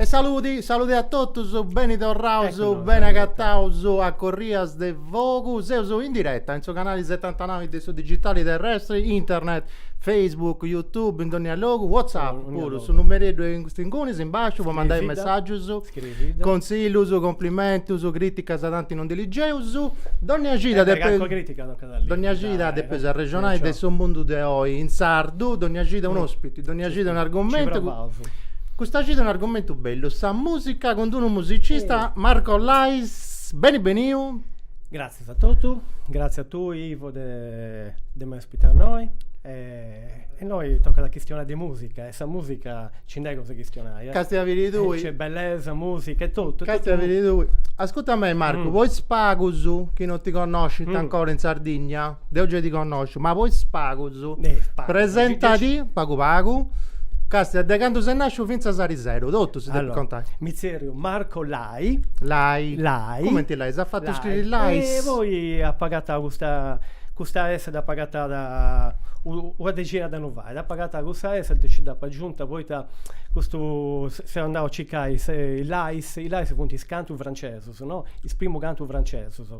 E saludi, saludi a totus, beni torraus, beni agataus a Corrias de Fogu, seus in diretta in su canali setantanau de su digitali terrestri, internet, Facebook, YouTube, in dònnia logu, WhatsApp puru, su numereddu est ingunis, in basciu, po mandai messàgius. Contzillus, cumplimentus, crìticas tanti non ndi ligeus. Dònnia cida depeus. Dònnia cida depeus arrexonai de su mundu de oi in sardu, dònnia cida un'òspiti, dònnia cida un'argumentu. Custa cida un'argumentu bellu, sa mùsica cun d'unu musicista, Marco Lais. Beni beniu. Gràtzias a totu, gràtzias a tui Ivo de de m'ai ospitau innoi e E innoi tocat a chistionai de musica e sa musica nci nd'est cosa 'e chistionai. Casti a biri tui. Nc'est bellesa, musica e totu. Casti a biri tui. Ascurta mei Marcu, po is pagus chi non ti connoscint ancora in Sardigna, deu gei ti connosciu, ma po is pagus, presentadi pagu pagu, casti a de candu ses nasciu finzas a ariseru, totu si depit contai. Allora, mi zerriu Marco Lai Lai. Lai. Lai. Cumenti lai? S'at fatu scriri lais. E poi apo agatau custa custa S dd'apo agatada una dexina de annus fait, apo agatau custa S e nci dd'apu agiunta poita custu seu andau a circai is lais, is lais funt is cantus francesus no, is primus cantus francesus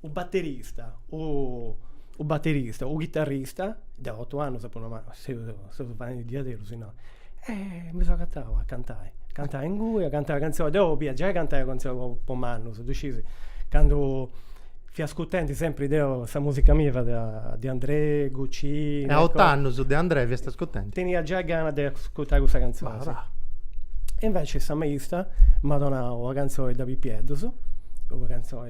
U batterista, u batterista, u chitarrista, deu otu annus apu nau, ma seus faendi diaderus innoi, e mi seu agatau a cantai, cantai ingui, a cantai cantzonis, deu bia giai cantai cantzonis po mannus, ddu scius, candu fia ascurtendi sempri deu sa musica mia fiat De Andrè, Guccini, e a otu annus De Andrè fiast ascurtendi, tenia giai gana de ascurtai cussa cantzonis, e invecias sa maista m'at donau una cantzoni de Pipieddus, una cantzoni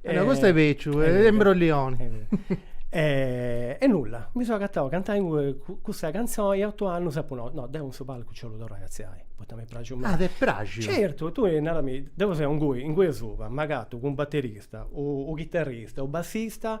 E no, custu est bèciu, est imbroglioni. E e nulla, mi seu agatau a cantai ingui cussa cantzoni e otu annus apu nau, no, deu in su palcu nci 'ollu torrai a artziai, poita m'est praxiu meda. Ah, t'est praxiu? Certu, tui narami, deu seu ingui, ingui asuba, m'agatu cun u batterista u chitarrista u bassista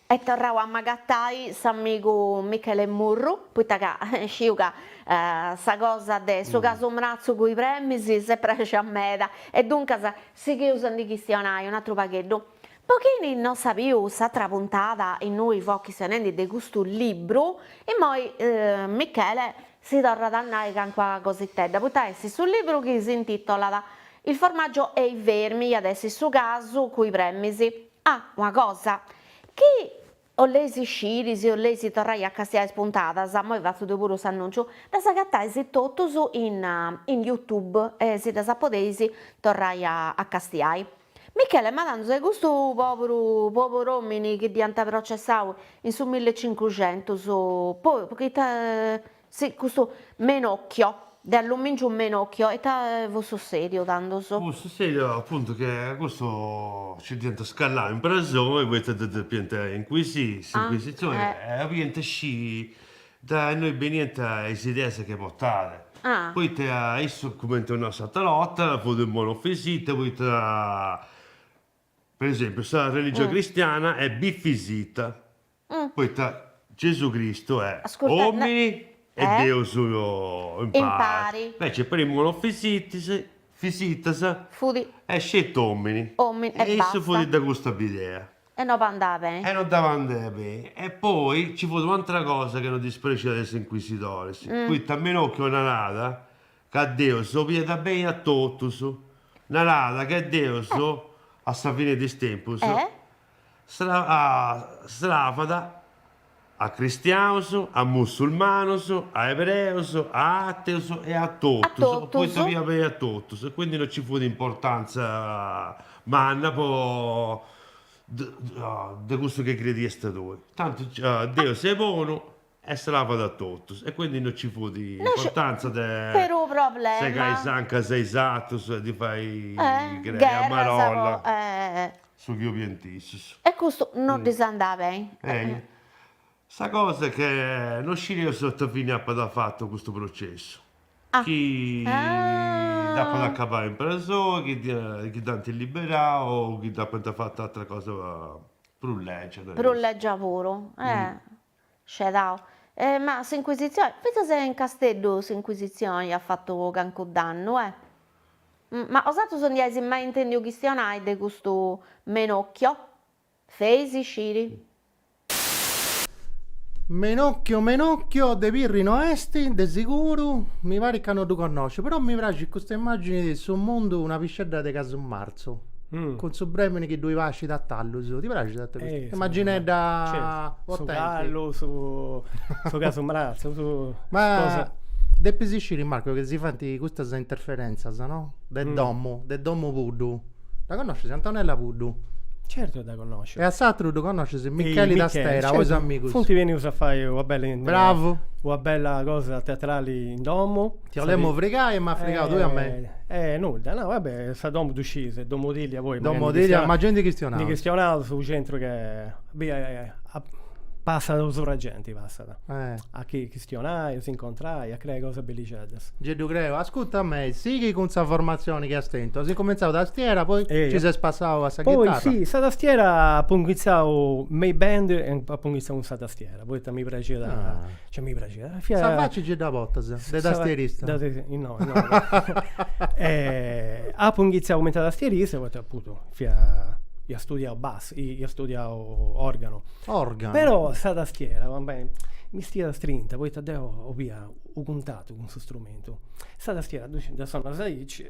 Oi est torrau a m'agatai s'amigu Michele Murru, poita ca sciu ca sa cosa de su casu mratzu cun is premis si est praxia meda, e duncas sigheus a ndi chistionai un'atru pagheddu. Po chini no at biu s'atra puntada innui fia chistionendi de custu libru, immoi Michele si torrat a nai cancua cositedda, poita su libru chi s'intitolat Il formaggio e i vermi iat essi su casu cun is premis, Ah, una cosa, chi 'olleis sciri, si 'olleis torrai a castiai is puntadas, moi fatzu deu puru s'annunciu, ddas agatais totus in in youtube e si ddas podeis torrai a a castiai. Michele, ma tandu, custu poburu pobur'omini chi dd'iant processau in su millecincuxentus po ita Si, custu Menocchio, de allumìngiu Menocchio, ita fut sussèdiu tandus? Fut sussèdiu apuntu chi a custu nci dd'iant scalau in presoni poita ddu depiant incuisiri s'incuisitzioni e obiant sciri de innoi beniant is ideas chi portat, poita issu, cumenti eus nau s'atera 'orta, fut unu monofisita poita Per esempiu, sa religioni cristiana est bifisita, poita Gesù Cristu est omini e Deus impari, inveci po is monofisitas est sceti omini, e issu fut de custa bidea, e no ddis andada beni, e poi nci fut un'atera cosa chi no ddis praxiat a is inquisidoris, poita Menocchio narada, Ca Deus obiat beni a totus. Narat che Deus, a sa fine de is tempus, sravat a cristiaus, a mussulmanus, a ebreus, a ateus e a totus, poita obiat beni a totus e quindi non nci fut importanza manna po de cussu chi crediast tui. Tanti Deus est bonu. E sravat a totus, e quindi no ci fut importanza de segai is ancas a is atrus e ddis fai crei a marolla, su chi 'oliant issus. E custu no ddis andat beni. Sa cosa est che no scireus ita fini apat fatu custu processu, chi dd'apat acabau in presoi, chi dd'ant liberau o chi dd'apant fatu atra cosa prus legia. Prus legia puru. Scedau, E ma s'Inquisitzioni, fintzas in Casteddu s'Inquisitzioni at fatu cancu dannu, eh? Ma 'osatrus no ndi ais mai intèndiu chistionai de custu Menocchio? Feis sciri. Menocchio de Pirri no est, de siguru, mi parit ca no ddu connosciu, però mi praxit custa immàgini de su mundu una piscedda de casu marzu. marzu, mm. cun su bremini chi ddoi pascit a tallus. Ti praxit a te custu? Eh, Immaginedda certo. su callu, su, su casu mrazzu, su... Ma... Cosa... Depis isciri Marco che si fant custas interferenzas, no? De mm. domu, de domu Puddu. Dda connoscis Antonella Puddu? Certo dda connosciu. E a s'atru ddu connoscis Michele da Stera, certo. amigus. Funti venius a fai una bella, Bravo. una bella cosa teatrale in domu. Ti 'olemu frigai e m'as frigau tui a mei. Eh nudda, no va bè, sa domu ddu scii, s'est domu tìllia poi. Domu magari ndi tìllia, ma gei ndi chistionaus. Ndi chistionaus su centru che passat subra genti, passat. Eh. A chistionai, a si incontrai, a creai cosas bellixeddas. Gei ddu creu. Ascurta a mei, sighi cun sa formatzioni chi as tentu. As incumentzau tastiera, poi nci ses passau a sa chitarra. Poi si, sa tastiera apu inghitzau me is band e apu inghitzau cun sa tastiera, poita mi praxiat. Cioè mi praxia. Fia... Sa facci gei da botas, de tastierista. Da, no, no. e, apu inghiziau cumenti tastierista, poita apuntu fia ia studiau bassu, ia studiau organu. Organu. Però sa tastiera, va bene, mi stiat strinta, poita deu 'olia u cuntatu cun s'istrumentu. Sa tastiera dda sondas aici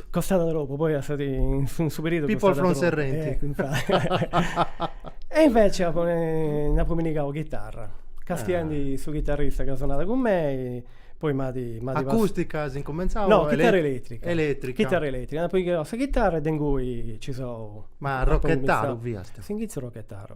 Rap. Costàt tropu, poi infati in su periodu costàt tropu. People from Serrenti. E invece apo nd'apo pigau chitarra, castiendi su chitarrista chi sonàt cun mei, poi m'at m'at pas. Acustica as incumentzau o. No, chitarra eletrica. Eletrica. Chitarra eletrica, nd'apo pigau sa chitarra e de ingui nci seu. Ma rochetaru fiast. S'inghitzu arrochetaru.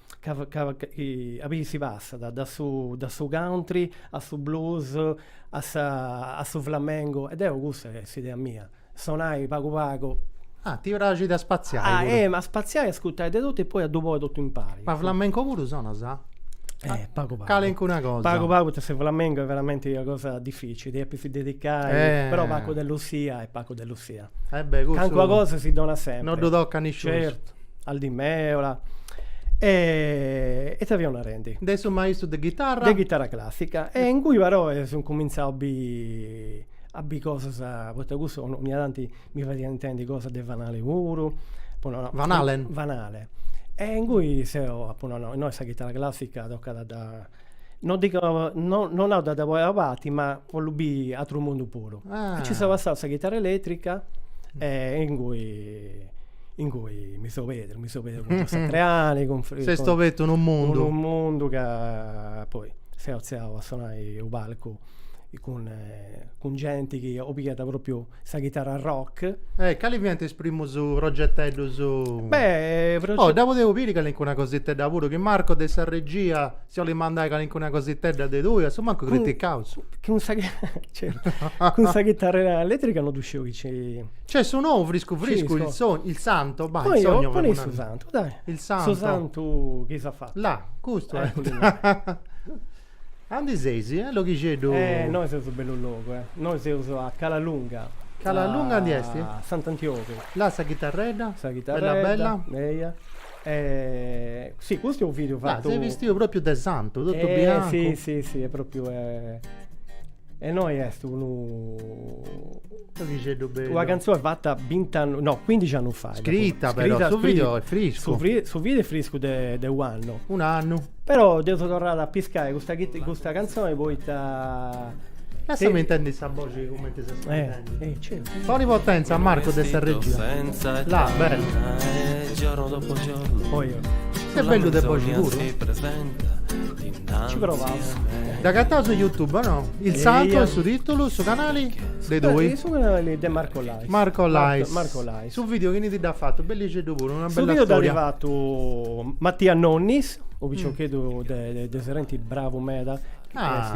a biri si passat dae su dae su country a su blues a sa a su flamengo e deu custa est s'idea mia, sonai pagu pagu. Ah, ti praxit a spaziai puru. Ah, ehm, a spaziai, a ascurtai de totu e poi a ddu poni totu impari. Ma flamenco puru sonas? Eh, pagu pagu. Calincuna cosa. Pagu pagu poita su flamengo est veramenti una cosa dificili, depis dedicai però Paco de Lucia est Paco de Calincuna cosa si donat sempre. No ddu tocat nisciunus. Certu, Al Di Meola. E ita fiaus narendi? De su maistru de ghitarra. De ghitarra classica. E ingui però seu incumintzau a biri, a biri cosas, poita cussu ogni tanti mi fadiat intendi cosas de Van Halen puru. Apu nau, Van Halen. Van Halen. E ingui seu, apu nau, no, innoi sa ghitarra classica tocat a dda No dico, no, no a dda poni a parti, ma bollu biri atru mundu puru. Ah. E ci seu passau a sa chitara eletrica e ingui ingui mi seu perdiu, mi seu perdiu cun Joe Satriani, cun Fri- S'est cun- obertu unu mundu. unu mundu ca poi seu artziau a sonai u' palcu cun cun genti chi apicigat propriu sa ghitara rock. E cali fiant is primus progeteddus? Beh, progeteddus... Oh, deu podeus biri calincuna cositedda puru, chi Marco de sa regia si 'olit mandai calincuna cositedda de tui, asumancu criticaus. Cun sa... Certu. Cun sa ghitara eletrica no ddu sciu chi ci... Nc'est su nou, friscu friscu, il sogno, il santo, poi il sogno... Poni, poni su santu, dai. Il santo. Su santu chi as fatu. Là, custu est. A undi seis, logu chieteddu? Eh, nois seus bellu logu, eh. Nois seus a Cala Lunga. Cala Lunga a undi est? A Sant'Antiogu. Là sa chitarredda? Sa chitarredda. Bella bella? Eia. E, si, custu est u' video fatu. Là, ses bistiu propriu de santu, totu biancu. Eh, si, si, si, est propriu. E innoi est unu Orixeddu bellu. Una cantzone fatta 20 annu, no, 15 annus fait. Scritta, scritta però, su video è friscu. Su, fri, su video è friscu de, de u'annu. Un annu. Però deu seu torrau a piscai custa, custa canzone poita... Lassami intendi sa boxi cumenti s'est intendendi. Eh, certo. Poni potenza, Marco de sa regia. Là, bello. Giorno dopo giorno. Poi io. Ses bellu de boxi puru. Ci provaus. Dd'agattau su YouTube o no? Il Salto Eia. e su titulu, su canali? De tui? Eh, Su canali de Marco Lais. Marco Lais. Marco Lais. Su video chini ti dd'at fatu? Bellixeddu puru, una bella storia. Su video dd'at fatu Mattia Nonnis, unu piciocheddu de de Serenti bravu meda. Ah. Est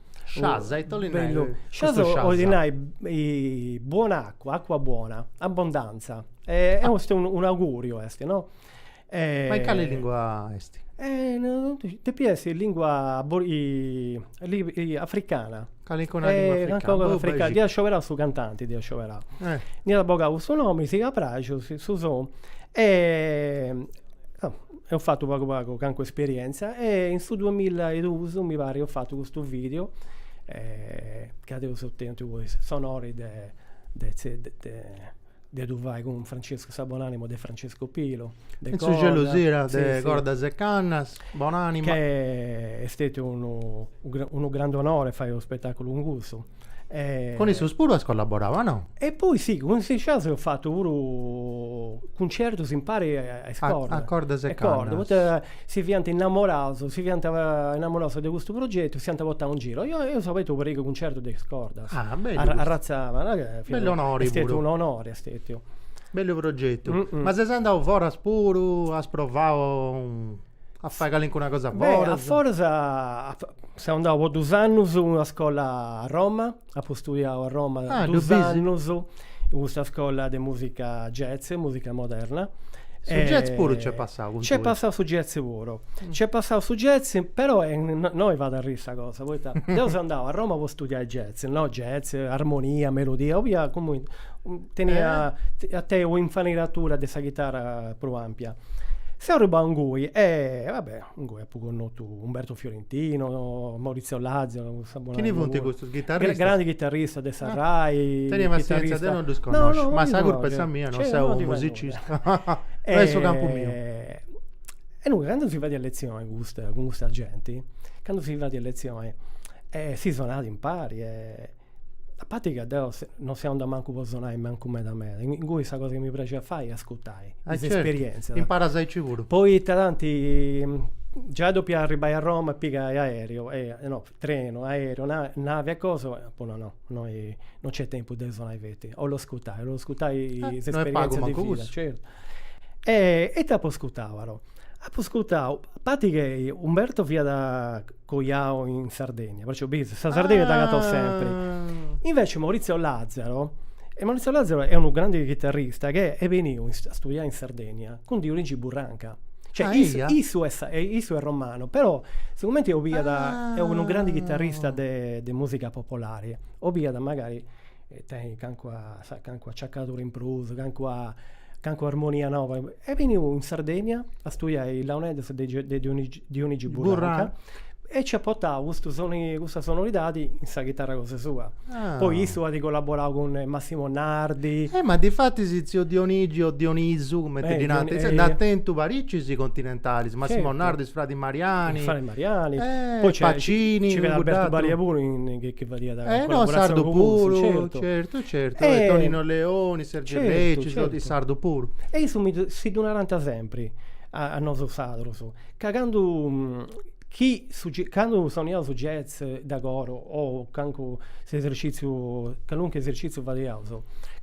Sciascia ita 'olit nai bellu custu Sciascia? 'olit nai buona acqua, acqua buona, abbondanza. Est un'auguriu est, no. Ma in cali lingua est? Depit essi lingua africana. Calincuna lingua africana. Dd'iat scioberau su cantanti dd'iat scioberau. Nd'iat bogau cussu nomi, siat ca praxiat su sonu Eo fatu pagu pagu calincuna esperienza e in su duamilla e dus mi pari eo fatu custu video ca deu eo tentu poi s'onori de de de ddu fai cun Francescu sa bonanima de Francescu Pilu de In sa gelosia de Cordas e Cannas bonanima ca est stetiu unu unu grandu onori fai unu spetaculu cun cussu Cun issos puru as collaborau o no? E poi si, cun is Sciascia eus fatu puru cuncertus impari a is cordas. A cordas e cannas. Poita si fiant innamoraus, si fiant innamoraus de custu progetu, s'iant portau in giru. Eus abertu u' parigu 'e cuncertus de is cordas. Ah, bellu custu. Arratzada. Bellu onori puru. Est stetiu un'onori, est stetiu. Bellu progetu. Ma ses andau foras puru, as provau? A fai calincuna cosa foras? A foras seu andau po dus annus in una scola a Roma, apu studiau a Roma dus annus in custa scola de musica jazz, musica moderna. Su jazz puru nc'est passau cun tui? Nc'est passau su jazz puru, nc'est passau su jazz, però innoi fait arriri sa cosa, poita deu seu andau a Roma po studiai jazz, no jazz, armonia, melodia, 'olia, tenni, a tenni un'infarinatura de sa chitara prus ampia. Seu arribau ingui e va bè, ingui apu connotu Umberto Fiorentino, Maurizio Lazio, no sa bonai. Chini funt custus? Ghitarristas? Grandis ghitarristas de sa RAI. Teni passientzia, deu no ddus connosciu, ma sa curpa est sa mia, no seu unu musicista, no est su campu miu. E duncas candu si fadiat letzioni cun custa genti, candu si fadiat letzioni, si sonàt impari e A parti ca deo non seu andau mancu po sonai mancu meda meda, ingui sa cosa chi mi praxiat fai est ascurtai is esperientzias. Imparas aici puru. Poita tanti giai ca depia arribbai a Roma e pigai aereo, no, trenu, aereo, navi e cosa, apu nau no, innoi non nc'est tempus de sonai feti, 'ollu ascurtai, 'ollu ascurtai is esperientzias de vida. Certu. E ita apu ascurtau però Apo ascurtau, a parti che Umberto fiat coiau in Sardegna, perciò bis, sa Sardegna s'agatat sempri. Invece Maurizio Lazzaro, e Maurizio Lazzaro est unu grandi chitarrista che est beniu a studiai in Sardegna cun Dionigi Burranca. Cioè, Ah, issu, eia? issu est, e issu est romanu, però sigumenti 'obiat, est unu grandi chitarrista de de musica popolare, 'obiat magari tenni calincuna acciacadura in prus, calincuna calincuna armonia noba, est beniu in Sardegna a studiai is launeddas de de Dionigi Burranca e ci at portau custu soni custa sonoridadi in sa chitarra cosa sua. Poi issu at collaborau cun Massimo Nardi. Eh ma difatis tziu Dionigi o Dionisu cumenti ddi narant, si nd'at tentu paricis continentalis, Massimo Nardi is fradis Mariani. Is fradis Mariani, poi nc'est Pacini, cuddu aturu. Albertu Balia puru chi fadiat collaboratzioni cun Mursi, certu, certu, certu, e Tonino Leoni, Sergio Leccis, sardu puru. E issu mi si ddu narant sempri a nosu sadrus, ca candu chi candu soniaus su jazz de coro o cancu s'esercìtziu calunque esercìtziu fadiaus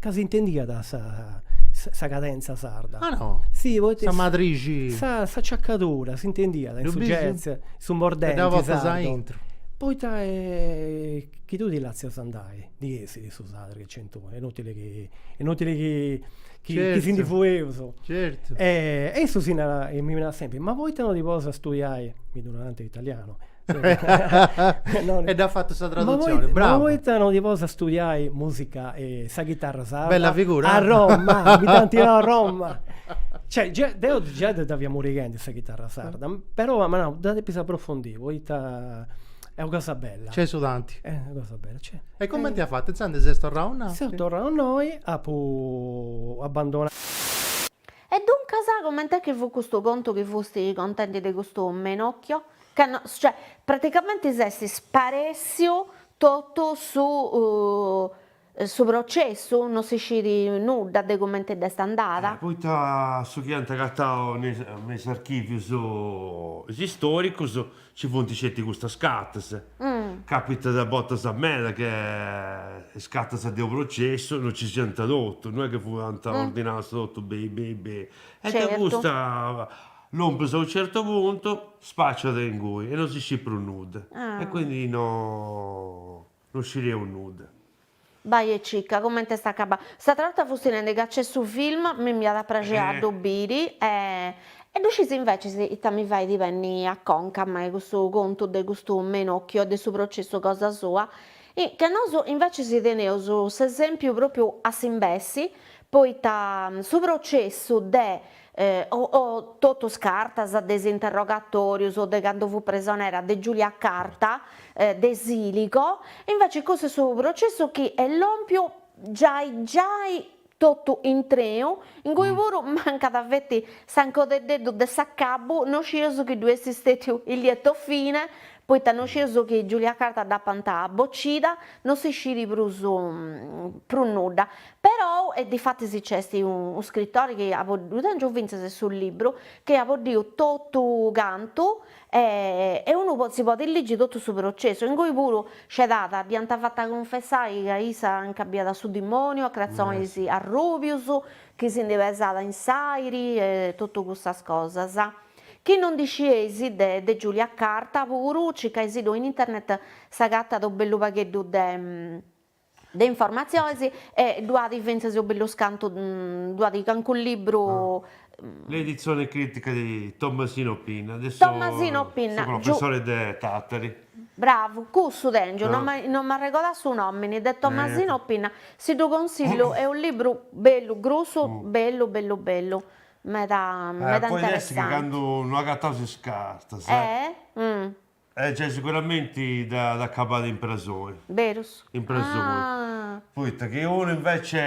ca s'intendiat sa sa cadentza sarda. Ah no? Si poita sa madrixi. Sa sa ciacadura s'intendiat in su jazz, su mordenti sardu Sardu. Poita chi tui ti lassas andai, ndi essit su sadru che c'est, inutili chi inutili chi chi si ndi fueus. Certu. E issu mi narat, mi narat sempri, ma poita no ti ponis a studiai, mi ddu narant in italianu. E dd'at fatu sa tradutzioni, bravu. Ma poita no ti ponis a studiai musica, sa chitarra sarda. Bella figura. A Roma, mi dd'ant nau a Roma. Cioè, deu già dda fia murighendi sa chitarra sarda, però m'at nau, dda depis aprofondì. Poita est una cosa bella. Nc'est su tanti. Est una cosa bella, nc'est. E comenti as fatu? Intzandus ses torrau innoi? Seu torrau innoi, apu abandonau. E duncas, coment'est chi fut custu contu chi fusti contendi de custu Menocchio? Ca no, cioè, praticamenti s'est sparèssiu totu su Su processu? No si scit nudda de comente dd'est andada. Poita su chi ant agatau me is archivius is istoricus ci funt sceti custas cartas. Capitat a bortas meda che is cartas de unu processu no ci siant totu, no est che fuant ordinadas totu beni beni beni. E de custa lompus a unu certu puntu spaciat inguni e no si scit prus nudda. E quindi no. No scideus nudda. Bai e cicca comente est acabau. S'atra 'orta fusti nendi ca nc'est su film, mi nd'iat a praxi a ddu biri e e ddu sciis invecis ita mi fait benni a conca a mei custu contu de custu Menocchio e de su processu cosa sua. Ca nosu invecis teneus s'esempiu propriu a s'imbessi, poita su processu de o o totu is cartas de is interrogatorius o de candu fut presonera de Giulia Carta, de Siligo, invece cussu est su processu chi est lompiu giai giai totu intreu, innui puru mancat feti s'arrogheddeddu de s'acabu, no scius chi ddoi essit stetiu il lieto fine, poita no scius chi Giulia Carta dd'apant bocida, no si sciri prus prus nudda. Perou e difatis nc'est unu scritori chi at boddiu, tengiu fintzas su libru, chi at boddiu totu cantu e e unu si podit ligi totu su processu, ingoi puru nci ddu at, dd'iant fata cunfessai ca issa nca biat su dimoniu a cratzonis arrubius chi si ndi pesat in s'airi e totu cussas cosas. Chi no ndi scieis de de Giulia Carta puru circai-si-ddu in internet s'agatat unu bellu pagheddu de de informatziones e ddu at fintzas unu bellu scantu ddu at calincunu libru. L'edizione critica di Tommasino Pinna de Tommasino Pinna, professore de Tattari. Bravu, cussu tengiu, no no m'arregodà su nomini, de Tommasino Pinna, si ddu consillu est unu libru bellu grussu, bellu bellu bellu, meda meda interessante. Poita chi candu no agatant is cartas. Eh gei siguramenti dd'at acabada in prasoni. Berus? In prasoni. Ah. Poita chi unu invece.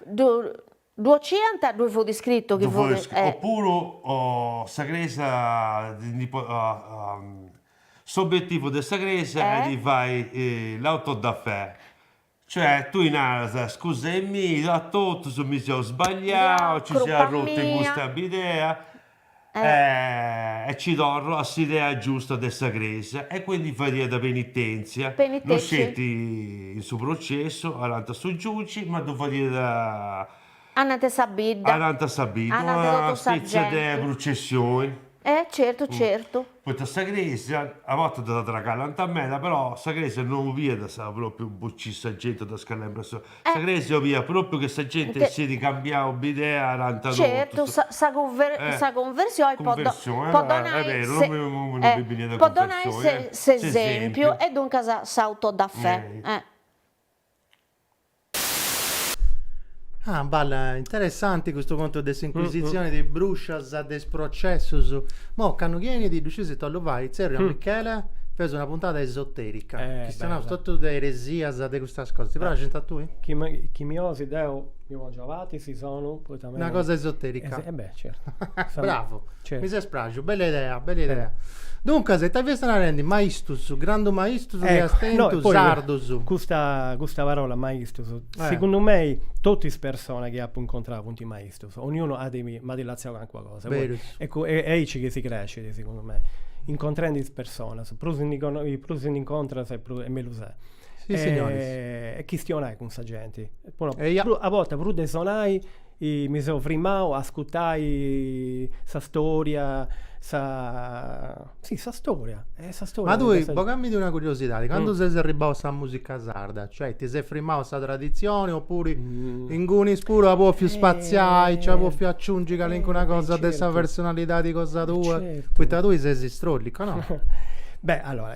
Ddu 'ociant, ddui fut iscritu chi fut. Ddui fut iscritu. Opuru sa Crèsia ndi podit. S'obietivu de sa Crèsia est de fai l'auto da fè. Cioè tui naras, scusai-mì, a totus mi seu sbagliau, nci seu arrutu in custa bidea e ci torru a sa idea giusta de sa Crèsia. E quindi fadiat penitèntzia, no sceti in su processu, anant'a su giuci, ma ddu fadiat Anant sa bidda. Anant'a sa bidda. Anant'a totu sa genti. Una spètzia de prucessioni. E certu certu. Poita sa crèsia, a bortas dda tragallant meda, però sa crèsia no obiat pròpriu bociri sa genti o ddas calai in presoni. Sa crèsia obiat pròpriu chi sa genti essit cambiau bidea, anant'a totus. Certu, sa sa sa cunversioni po po donai s'e po donai s'e s'esempiu e duncas s'autodafè. Ah balla, interessanti custu contu de s'incuisitzioni, de is bruscias, de is processus. Mo candu chi 'enis ddu scis ita 'ollu fai, tzerriu a Michele, feus una puntada esoterica, chi arrexonaus totu de eresias, de custas cosas, ti praxint a tui? Chi mi 'olis deu mi pongiu abatis, si solu, poita Una cosa esoterica. Eh beh, certo. Bravo. Certo. Mi ses praxu, bella idea, bella idea. Duncas, ita fias narendi? Maistus, grandu maistus chi as tentu, sardus. Custa, custa parola maistus, segundu mei, totu is personas chi apu incontrau funt maistus. Ognunu at m'at lassau calincuna cosa. Berus. E cu, est aici chi si crescit, segundu mei. Incontrendi is personas. Prus ndi prus ndi incontras e prus, e mellus est. e, e chistionai cun sa genti. Pro, Eia. pro, a bortas prus de sonai mi seu frimau a ascurtai sa storia, sa, si sa storia, e sa storia Ma tui, bogamindi una curiosidadi, candu ses arribbau a sa musica sarda, cioè ti ses frimau a sa tradizioni oppuru ingunis puru as bòfiu spaziai, nci as bòfiu aciungi calincuna cosa de sa personalidadi cosa tua, poita tui ses istròllicu, no? Beh, allora,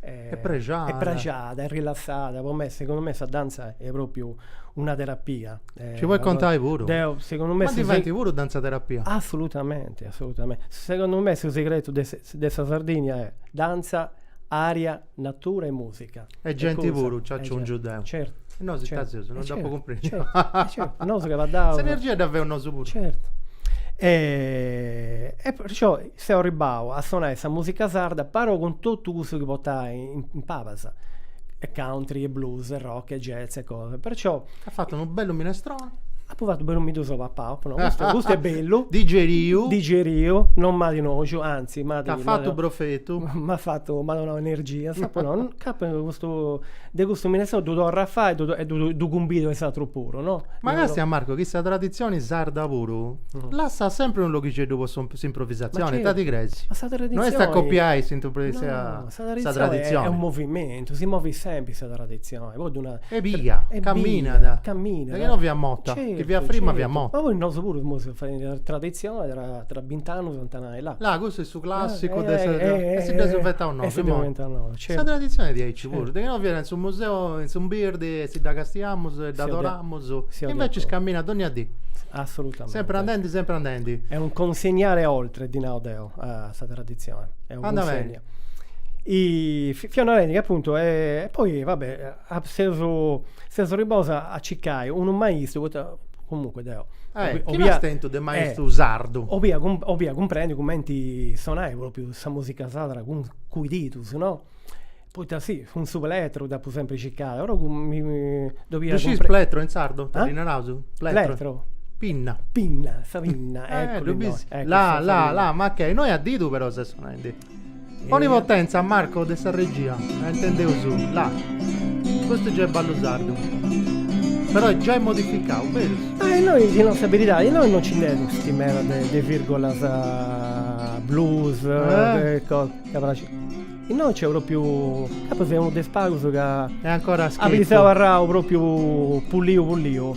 e prexada e prexada e rilassada po me segundu me sa dantza est propriu una terapia ci podis contai puru deo segundu me ma diventi puru dantza terapia assolutamente assolutamente segundu me su segretu de de sa Sardigna est dantza aria natura e musica e genti puru nci aciungiu deo certu nosu ita seus non dd'apu cumprendiu nosu chi 'onaus s'energia dda feus nosu puru certu e perciò Seu arribau a sonai sa musica sarda però cun totu cussu chi potai in palas, e country e blues e rock e jazz e cosa, perciò. At fatu unu bellu minestroni. Apu fatu bellu mi ddu seu papau, apu nau, custu custu est bellu. Digeriu. Digeriu, non m'at noxu, anzi m'at. T'at fatu brofetu. M'at fatu, m'at donau energias, apu nau, ca custu De custu minestroni ddu torru a fai e ddu cumbidu a is atrus puru, no? Ma càstia Marco chi sa traditzioni sarda puru lassat sempri unu loghixeddu po s'improvisatzioni, ita ti creis? Ma sa traditzioni. No est a copiai sa traditzioni. Est unu movimentu, si movit sempri sa traditzioni, po ddu nai. Est bia, caminat. Caminat. De chi no fiat morta, chi fiat frima fiat morta. Ma poi nosu puru seus fadendi traditzioni tra bint'annus ant a nai Là, custu est su clàssicu de sa... E si dd'eus inventau nosu. E si dd'eus inventau nosu, certu. Sa traditzioni est diaici puru. De chi no fiat in su museu, in s'umbirdi, e si dda castiamus e dd'adoramus. E invècis caminat dònnia dì. Assolutamente. Sempri andendi, sempri andendi. Est un consegnare oltre, ddi nau deu, a sa traditzioni. Andamenti. Fiat una rendida, apuntu, e poi, va bè Seu arribau a circai unu maistu poita comunque deu. Eh, chi n'as tentu de maistu sardu? 'olia cumprendi cumenti sonai propriu sa musica sarda cun cun is didus, no. Poita si, cun su plettru dd'apu sempri circada, però ddu 'olia. Ddu sciis plettru in sardu? Ah? Ita naraus? Plettru? Pinna. Pinna, sa pinna, eccu. Eh, ddu bis. Là, là, là, ma che, innoi a didu però ses sonendi Onipotenza Marco de sa regia intendeus là. Custu già est ballu sardu. Però già est modificau, berus? E innoi ti nau sa beridadi, innoi non ci nd'est aici meda de de virgolas blues e cosa, ca praxit. Innoi nc'est propriu, ca apu fatu unu de is pagus ca. E ancora a scherzu. At abarrau propriu puliu puliu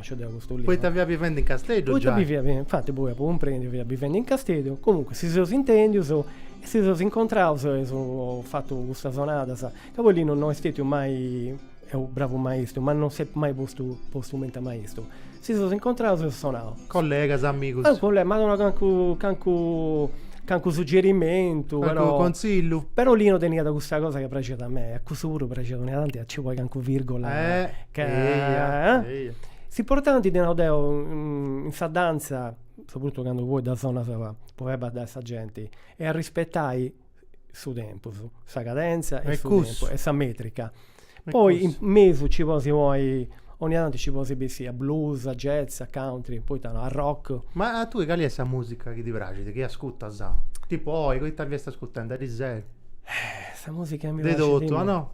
Poita fiat bivendi in Casteddu giai. Poita bi fiat bivendi, infati poi apu cumprendiu chi fiat bivendi in Casteddu, comunque si seus intendius e si seus incontraus eus fatu custas onadas, ca poi Linu no est stetiu mai, est u' bravu maistu, ma no s'est mai postu postu cumenti a maistu, si seus incontraus eus sonau. Collegas, amigus. Calincunu, m'at donau calincunu, calincunu, calincunu suggerimentu, però. Calincunu contzillu. Però Linu teniat custa cosa chi praxiat a mei, a cussu puru praxiat, d'onnia tanti a nci ponni calincunu virgola. s'importanti ddu nau deo in sa dantza sopruttotu candu poi ddas sonas po fai baddai sa genti est a rispetai su tempus sa cadentza e su tempus e sa metrica poi in mesu nci podis ponni 'onnia tanti nci podis bessiri a blues a jazz a country poita no a rock ma a tui cali est sa musica chi ti praxit chi ascutas tipu oi ita fiast ascurtendi a dì sera de totu no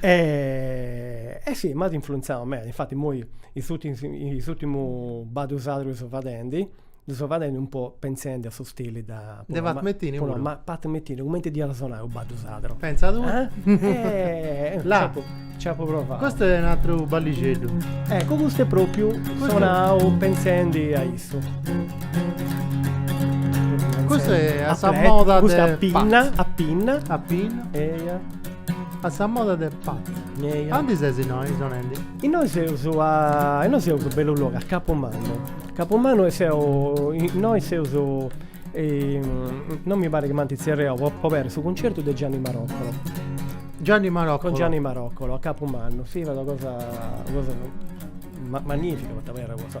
E, e si, m'at influenzau meda, infatti immoi is ùrtimus baddus sardus chi seu fadendi, ddu seu fadendi un po' pentzendi a su stili de Pat Metheny puru? Pat Metheny, cumenti diat a sonai u' baddu sardu. Pentza tui. E là. Nci apu provau. Custu est u' ateru ballixeddu. Eccu, custu est propriu sonau pentzendi a issu. Custu est a sa moda de Pat. Custu est a pinna, a pinna. A pinna. Eia A sa moda de Pat. Eja. Andi ses innoi, Sonendi? Innoi seus a. Innoi seus bellu logu, a Capumannu. Capumannu est. E. Innoi seus. Non mi parit chi m'ant tzerriau po aberri su cuncertu de Gianni Maroccolo. Gianni Maroccolo. Con Gianni Maroccolo a Capumannu. Fiat una cosa, una cosa ma magnifica poita abarrat una cosa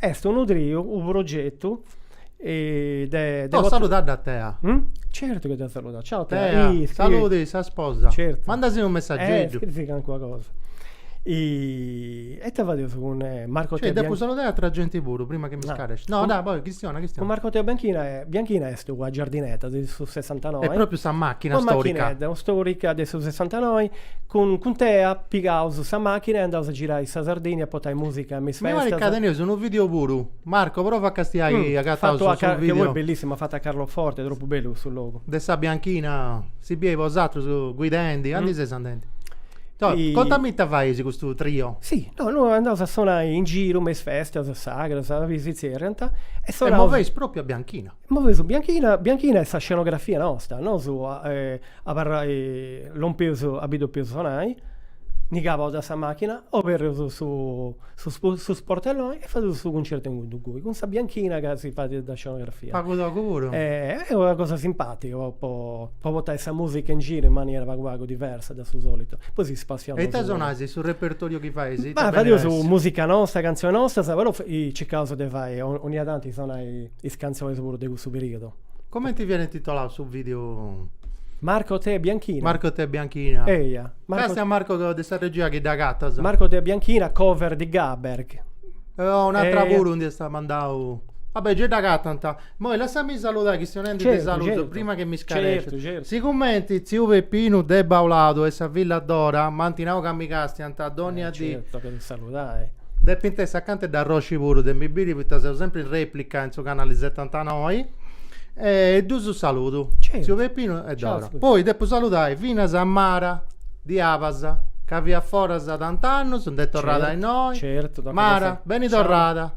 Est unu triu, unu progetu de Oh saludadda a tea. Certu chi dda saludu, ciao tea. Tea, saludi sa sposa. Certu. Mandasi unu messageddu. Scrivi calincuna cosa. E ita fadeus cun Marco Tea Bianchina. Depu saludai atra genti puru prima chi mi scaresci. No dai, poi, chistiona, chistiona. Cun Marco Tea Bianchina, Bianchina Est ua Giardinetta de su Sessantanoi. E propriu sa machina storica. Ua machinedda storica de su Sessantanoi, cun cun tea pigaus sa machina e andaus a girai in sa Sardigna a portai musica me is festas. Mi parit ca teneus unu video puru. Marco, prova a castiai chi agataus su video. Fattu bellissimu, fattu a Carloforte, tropu bellu cussu logu. De sa bianchina, si biei bosatrus guidendi, andi seis andendi? Contami ita fait custu trio. Si, no, andaus a sonai in giru me is festas sagras, si zerriant, e sonaus. E moveis propriu a bianchina. Meta. Movi su bianchina bianchina est sa scenografia nosta, nosu lompius a bi depius sonai, nci calaus de sa machina, oberrius su su sportelloni e fadius su cuncertu inguni inguni cun sa bianchina chi si fadiat de scenografia. Pagu togu puru. Est una cosa simpatica po po po portai sa musica in giru in maniera pagu pagu diversa de su solitu. Poi si spassiaus. E ita sonais, su repertoriu chi fais ita. Ma fadius musica nosta, cantzioni nostas, però circaus de fai 'onnia tanti sonai Is cantzonis puru de cussu periodu. Comenti fiat intituladu su video? Marco Tea Bianchina. Marco Tea Bianchina. Eia. Grazie a Marco de sa regia chi dd'agatat. Marco Tea Bianchina, cover di Gaber. Oh, un'atra Eia. puru nd'eus a mandai. Va bè, gei dd'agatant. Moi lassami saludai chistionendi ti Certu, saludo certu. prima chi mi scarescias. Certu, certu. Sicumenti tziu Peppinu de Bauladu e sa filla Dora m'ant nau ca mi castiant dònnia dì, Certu ca ti saludo. Dai. Depint essi acanta de s'arrosci puru, de mi biri poita seu sempri in replica in su canali setantanoi. E ddus saludu. Certu. Tziu Pepinu e Dora. Ciao. Poi depu saludai finas a Mara de Abas ca fiat foras tant'annus, nd'est torrada innoi. Certu, Mara, beni torrada.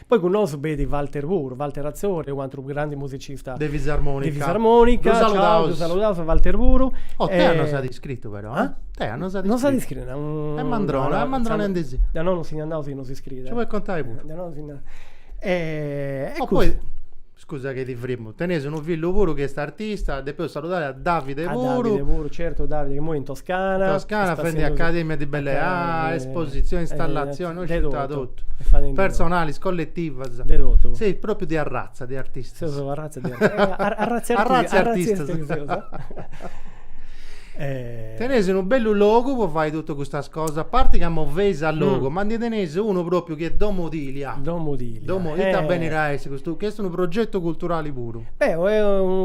Poi cun nosu b'est Walter puru, Walter Atzori, u'ateru grandu musicista de fisarmonica, ddu saludaus, ddu saludaus a Walter puru. Oh Tea nos at iscritu però, eh? Tea nos at iscritu. Nos at iscritu, nau. Est mandrona, est mandrona in disì. De nono si ndi andaus chi nos iscriit. Nci podit contai puru. De nono si ndi andaus. E cussu. Scusa ca ti frimmu. Teneis unu fillu puru chi est artista, depeus saludai a Davide puru. A Davide puru, certu, Davide, imoi in Toscana. In Toscana, fendi academia de belle arti, espositzioni, installatzioni, no sciu ita totu. Personalis, colletivas. De totu. Seis propriu de arratza de artistas. Seus una arratza de artistas. Arratza de artistas. Teneis unu bellu logu po fai totu custas cosas, a parti ca moveis a logu, ma ndi teneis unu pròpiu chi est Domo Dilia. Domo Dilia. Domo, ita beni a essi custu, chi est unu progetu culturali puru. Beh,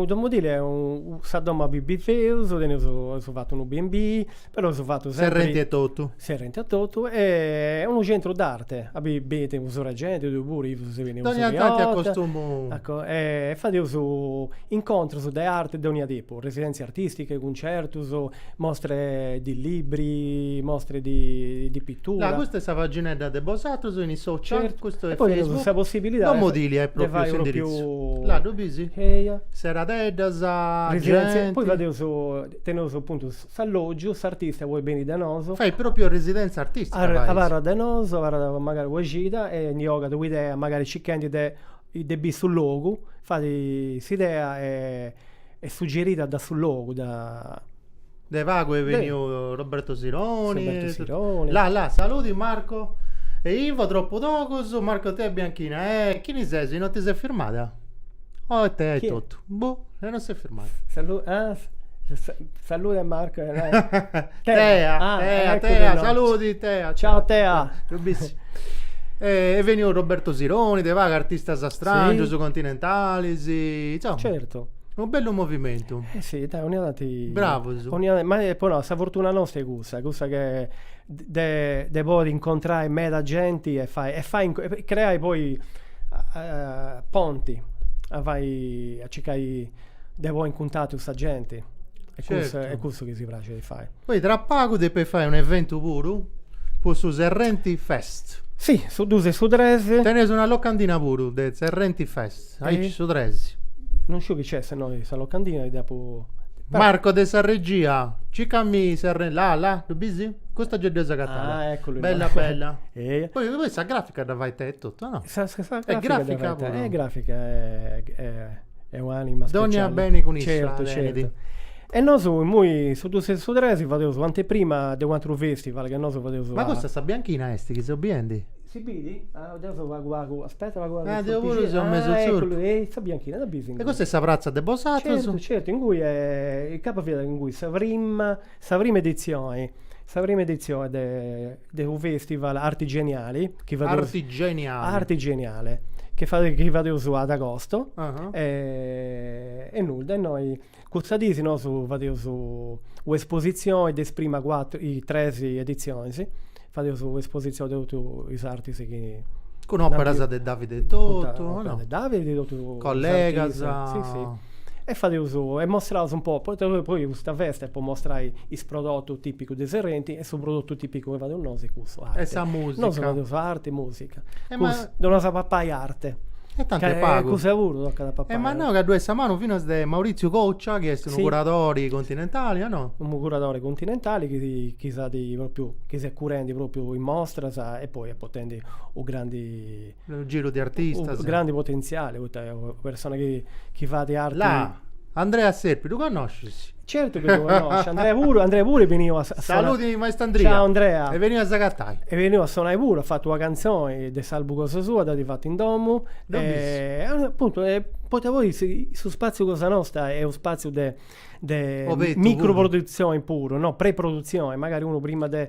Domo Dilia est sa domo a bi bifeus, teneus, eus fatu unu BNB, però eus fatu sempri. Serrenti etotu. Serrenti etotu e unu centru d'arte, a bi benit su sero genti, tui puru chi ses beniu. Dònnia tanti acostumu. Ecco, e fadeus incontrus de arti de dònnia tipu. Residèntzias artìsticas, cuncertus, mostre di libri, mostre di pitura. Là, custa est sa paginedda de bosatrus in is social, custu est Facebook, domo Dilia est pròpriu s'indiritzu. Là ddu bis? Eia. Seradeddas, genti. Poi fadeus, teneus apuntu s'allògiu, s'artista podit beni de nosu. Fait pròpriu residèntzia artìstica, fais. Abarrat de nosu, abarrat magari una cida e ndi ogat una idea, magari circhendi de de biri su logu, fait s'idea e Est suggeria da su logu, da. De pagu est bèniu Roberto Sironi. Roberto Sironi. La la, saludi Marco e Ivo, tropu togus, Marco Tea e Bianchina, eh, chini sesi, non ti ses firmada? Oh e Tea etotu, boh, e non s'est firmada. Salu, ah, Salude a Marco e Tea, Tea, Tea, Tea, saludi Tea. Ciao Tea. Est bèniu Roberto Sironi, de pagu artistas strangius, continentalis, insoma. Unu bellu movimentu. E si, dai, 'onnia tanti. Bravus. 'onnia tanti, ma po nai, sa fortuna nosta est cussa, cussa de de de podi incontrai meda genti e fai e fai e creai poi ponti, a fai, a circai de ponni in cuntatu custa genti. E cussu e cussu chi si praxit a fai. Poi tra pagu depis fai un eventu puru po su Serrenti Fest. Si, su dus e su tres. Teneus una locandina puru de Serrenti Fest. Aici su tres. Non sciu chi c'è, se no sa locandina dda depu... Marco de sa regia, circa·mì sa re... là, là, ddu bis? Custa giai dd'eus agatada. Ah, eccolo. Bella, bella. e... Poi, poi sa grafica dda fait Tea etotu, no? Sa, sa, sa è grafica, grafica è grafica, è, è, è un'anima speciale. Dogna bene cun issa, certo, certo. E nosu immoi su dus e su tres fadeus u' anteprima de u' atru festival chi nosu fadeus. Ma custa sa bianchina est chi seu biendi? Si bidi? Ah, deu seu pagu pagu, aspetta pagu pagu. Ah, deu puru seu mesu tzurpu. Ah, ecculu, e sa bianchina, dda bis ingui? E custa est sa pratza de bosatrus? Certu, certu, ingui, incapa fiat ingui sa prima, sa prima edizioni, sa prima edizioni de de unu festival arti geniali, chi fadeus. Arti geniali. Arti geniali, chi fadeus, chi fadeus a austu. E nudda, e nosu Custas dis nosu fadeus u espositzioni de is prima cuatru i tres editzionis, fadeus u espositzioni de totu is artis chi. Cun operas de Davide etotu, o no? Davide e de totu is. Collegas. Si si. E fadeus e mostraus un po, poita poi poi custa festa est po mostrai is prodotus tipicus de Serrenti e su prodotu tipicu chi fadeus nosu est cussu, arte. E sa musica. Nosu fadeus arti, musica E ma... Cus, no as a papai arte. E tanti est pagu. Cussa puru tocat a papai. E m'as nau ca ddu est sa manu finas de Maurizio Coccia chi est unu curadori continentali o no? Unu curadori continentali chi chi s'at propriu, chi s'est curendi propriu in mostras e poi est portendi u' grandi. Unu giru de artistas. U' grandi potentziali poita est una persona chi chi fait arti. Là! Andrea Serpi ddu connoscis? Certu chi ddu connosciu, Andrea puru, Andrea puru est beniu a sonai. Saludi maestru Andria. Ciao Andrea. Est beniu a s'agatai. Est beniu a sonai puru, at fatu una cantzoni de s'album cosa sua, dd'at fatu in domu. Ddu bis. Apuntu, poita poi su spaziu cosa nosta est u' spaziu de micro produtzioni puru, no, pre-produtzioni, magari unu prima de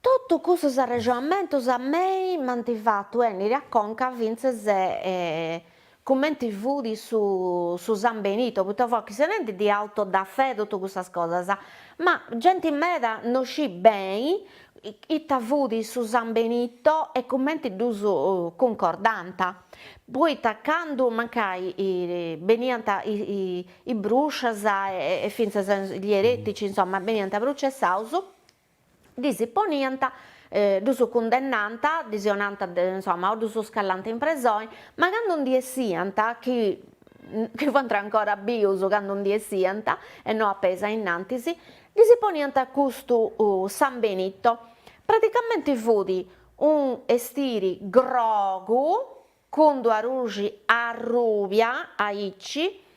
Totu cussus arrexonamentus a mei m'ant fatu 'ènniri a conca fintzes cumenti fut su su San Benito, poita fui chistionendi de auto da fé totu cussas cosas, ma genti meda no scit beni ita fut su San Benito e cumenti ddus cuncordànt, poita candu mancai beniant is bruscias e fintzas gli eretici insomma beniant prucessaus, ddis poniant, ddus cundennànt, ddis 'onànt insomma o ddus scallànt in presoni, ma candu ndi 'essiant chi chi fuant ancora bius candu ndi 'essiant e no a peis ainnantis, ddis poniant custu San Benito, praticamenti fut unu 'estiri grogu, cun d-una ruxi arrubia aici,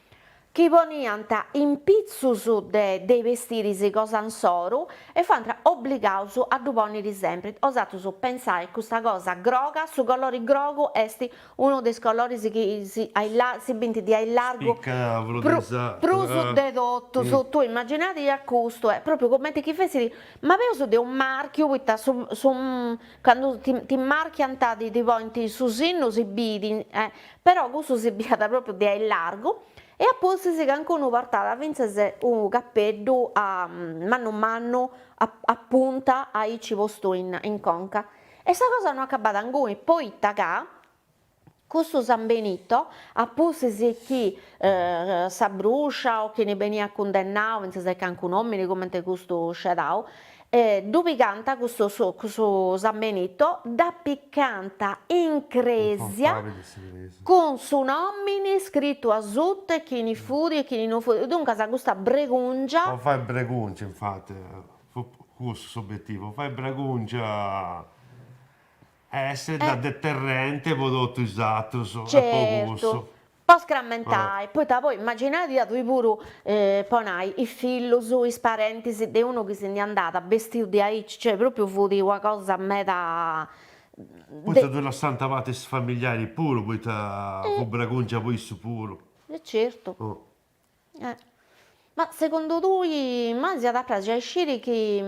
chi poniant impitzus de is bestiris cosa insoru e fuant obligaus a ddu ponniri sempri, 'osatrus pentzai custa cosa groga, su colori grogu est unu de is coloris chi si bint de aillargu prus de totus, tui immaginadia custu e propriu cumenti chi fessit ma peus de unu marchiu poita su su Candu ti marchiant ti ponint su sinnu si bit, però cussu si biat propriu de aillargu, e a pustis cancunu portàt fintzas unu capeddu mannu mannu a punta aici postu in conca, e sa cosa no acabat inguni, poita ca Custu San Benito, a pustis chi sa bruscia o chini beniat cundennau fintzas cancun'òmini cumenti custu sceadau, ddu pigànt custu San Benito, dd'apicànt in crèsia cun su nomini scritu asutu e chini fudi e chini no fudi, duncas custa bregùngia. Po fai bregùngia infati, fut cussu s'obetivu, po fai bregùngia Essere da deterrente po totu is atrus. Certu. Po scrammentai, poita poi imaginadia tui puru po nai is fillus, is parentis de unu chi si ndi andàt bestiu diaici, cioè propriu fut una cosa meda Poita ddu lassànt fati is familiaris puru, poita fut bragùngia po issus puru. E certu. Ma segundu tui, ma si iat a praxi a isciri chi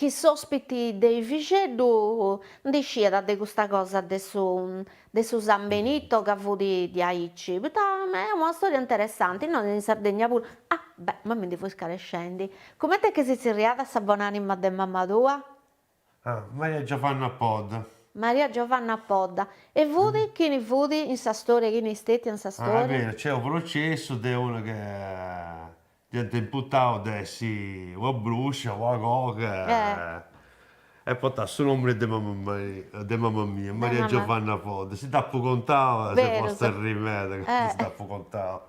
Chi s'ospiti de Efixeddu ndi sciat de custa cosa de su de su San Benito ca fut diaici, poita est una storia interessanti, innoi in Sardegna puru, ah beh ma mi ndi fui scarescendi, cumenti est chi si tzerriat sa bon'anima de mama tua? Ah, Maria Giovanna Podda. Maria Giovanna Podda. E fut, chini fut in sa storia, chini est stètia in sa storia? Ah, est beru, nc'est unu processu de una ca dd'iant imputau de essi una bruscia, una coga, e portat su nomini de mama mia, Maria Giovanna Podda. Si dd'apu contau s'est posta a arrii meda candu si dd'apu contau.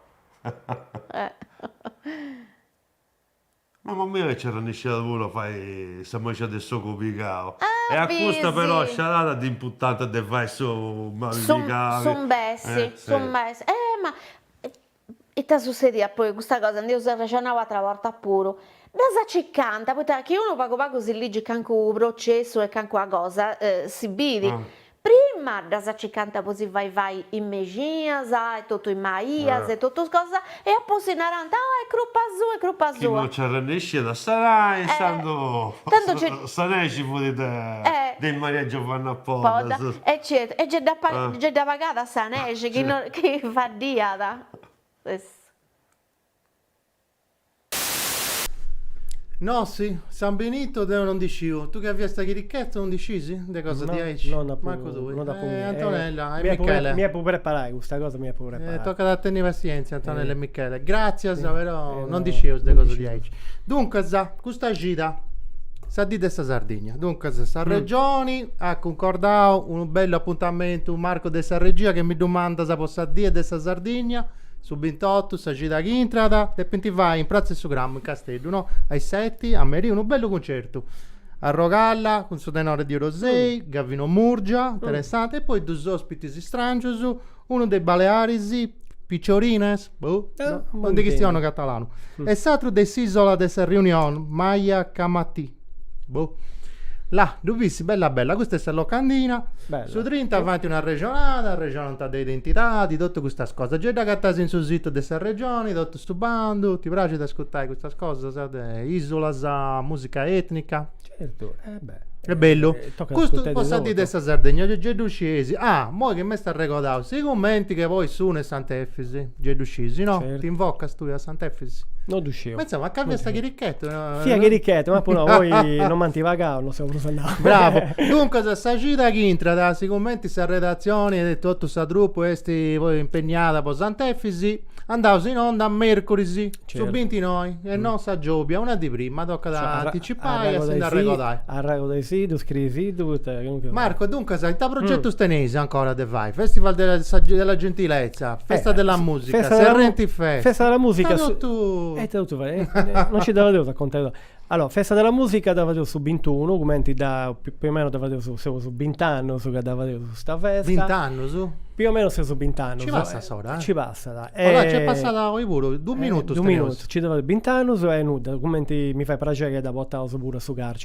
Mama mia ca nci arrennesciat puru a fai sa mexina de s'ogu pigau e a custa però sciarada dd'imputant de fai su mali pigau. S'imbessi, s'imbessi. Eh ma ita sussediat poi, custa cosa ndi eus arrexonau ateras bortas puru, ddas cicant, poita chi unu pagu pagu si ligit calincunu processu e calincuna cosa si bit, Prima ddas cicant po si fai fai is mexinas e totu is maias e totus cosas e a pustis narant, oh est crupa sua, est crupa sua. Chi no nci arrennesciat a sanai intzandus sa nexi fut de is Maria Giovanna Poddas. E certu, e gei dda pagat sa nexi chi faddiat. No si, San Benitu deu no ndi sciu. Tui chi fiast chirichetu no ndi scisi? De cosa diaici? No, no nd'apu. Mancu tui. No nd'apu. E Antonella e Michele. Mi depu preparai, custa cosa mi depu preparai. E tocat a tenni passienzia Antonella e Michele. Gratzias, però no ndi scius de cosa diaici. Duncas, custa cida, sa dì de sa Sardigna. Duncas, s'Arregioni at cuncordau unu bellu apuntamentu, Marco de sa regia chi mi ddu mandas po sa die de sa Sardigna. Su bintotu sa cida chi intrat depint fai in Pratza 'e su Grammu in Casteddu, no? A is seti, a merì, unu bellu cuncertu. Arrogalla cun su tenore de Orosei, Gavino Murgia, interessante, e poi duus ospitis istràngius, unu de is Balearis, Pitxorines, boh, no ndi chistionu catalanu, e s'atru de s'Isola de sa Réunion, Maya Kamaty. Boh. Là ddu bis bella bella, custa est sa locandina, su trinta faint una arrexonada, arrexonant de identidadi, totu custas cosas, gei dd'agatais in su situ de s'Arregioni, totu su bandu, ti praxit a ascurtai custas cosas de isulas, musica etnica? Certu, e beh. Est bellu. Custu po sa dì de sa Sardegna, gei gei ddu scieis, ah moi chi m'est arregodau, sigumenti ca poi seus in Sant'Efisi, gei ddu sciis, no? T'invocas tui a Sant'Efisi? No ddu sciu. Ma insomma, ca fiast chirichetu Fia chirichetu, ma poi poi no m'ant pagau, no seu prus andau. Bravo. Duncas sa cida chi intrat, sigumenti sa redatzioni e totu sa troupe est poi impegnada po Sant'Efisi, andaus in onda a mercuris, su bintinoi, e non sa giobia, una dì prima, tocat a anticipai e a si nd'arregodai. Arregodaisìddu, scriisìddu, poita chi no. Marco, e duncas, ita progetus teneis ancora de fai? Festival de sa della gentilezza, festa della musica, Serrenti Fest. Festa della musica. Ita totu. non ci dda fadeus a contai totu. Allora, festa della musica dda fadeus su bintunu, cumenti dda, più o meno dda fadeus, seus bint'annus ca dda fadeus custa festa. Bint'annus? Più o meno seus bint'annus. Ci passat s'ora, eh? Ci passat. E... Allora nc'est passada oi puru, dus minutus teneus. Ci dda fadeus bint'annus e nudda, cumenti mi fait praxeri dda portaus puru a su carceri.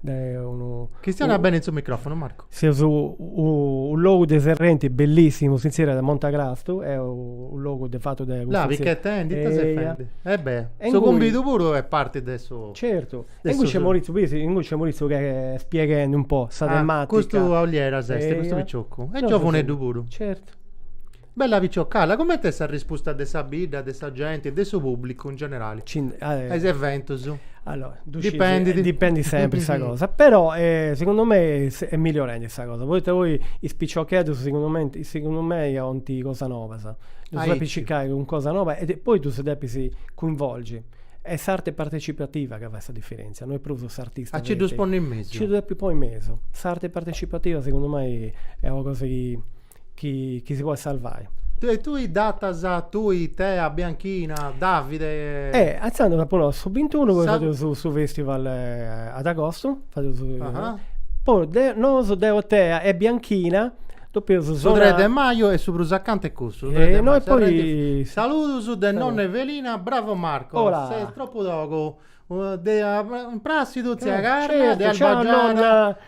de unu. Chistiona bene in su microfonu Marcu. Seus in unu logu de Serrenti bellissimu sintzeru de Monti Crastu, est unu logu de fatu de custu. La' chi t'intendit ita ses fendi. E bè. Su cumbidu puru est parti de su. Certu. E ingui nc'est Mauritziu, biri si ingui nc'est Mauritziu chi est spieghendi un po' sa tematica. Custu Aulieras est, custu picioccu. E giovuneddu puru. Certu. Bella picciocalla, coment'est sa rispusta de sa bidda, de sa genti, de su pubblicu in generali a is eventus? Allora, dipendit sempri sa cosa, però segundu mei est migliorendi sa cosa, poita poi is piciocheddus segundu mei segundu mei bolint cosas nobas, ddus depis circai cun cosa noba e poi ddus depis cuinvolgi, est s'arte partecipativa ca fait sa diferentzia, no est prus s'artista. A nci ddus ponis in mesu. Nci ddus depis ponni in mesu, s'arte partecipativa segundu mei est una cosa chi chi si podit sarvai. Tue tui datas tui Tea Bianchina Davide. E atzandu s'apo nau su bintunu poi fadeus su festival ad agostu fadeus poi de nosu deo Tea e Bianchina depeus sonai. Su tres de maju est su prus acanta est cussu. No e poi. Saludus de nonna Evelina bravo Marco ses tropu togu de prassidu tzia Carla de Albagiana.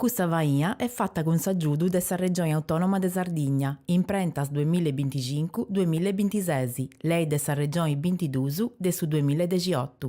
Custa faina est fata cun s'agiudu de sa Regioni Autònoma de Sardigna, imprentas due mìlle e binticincu, due mìlle e bintises, Lei de sa Regioni bintiduus de su due mìlle e dexiotu.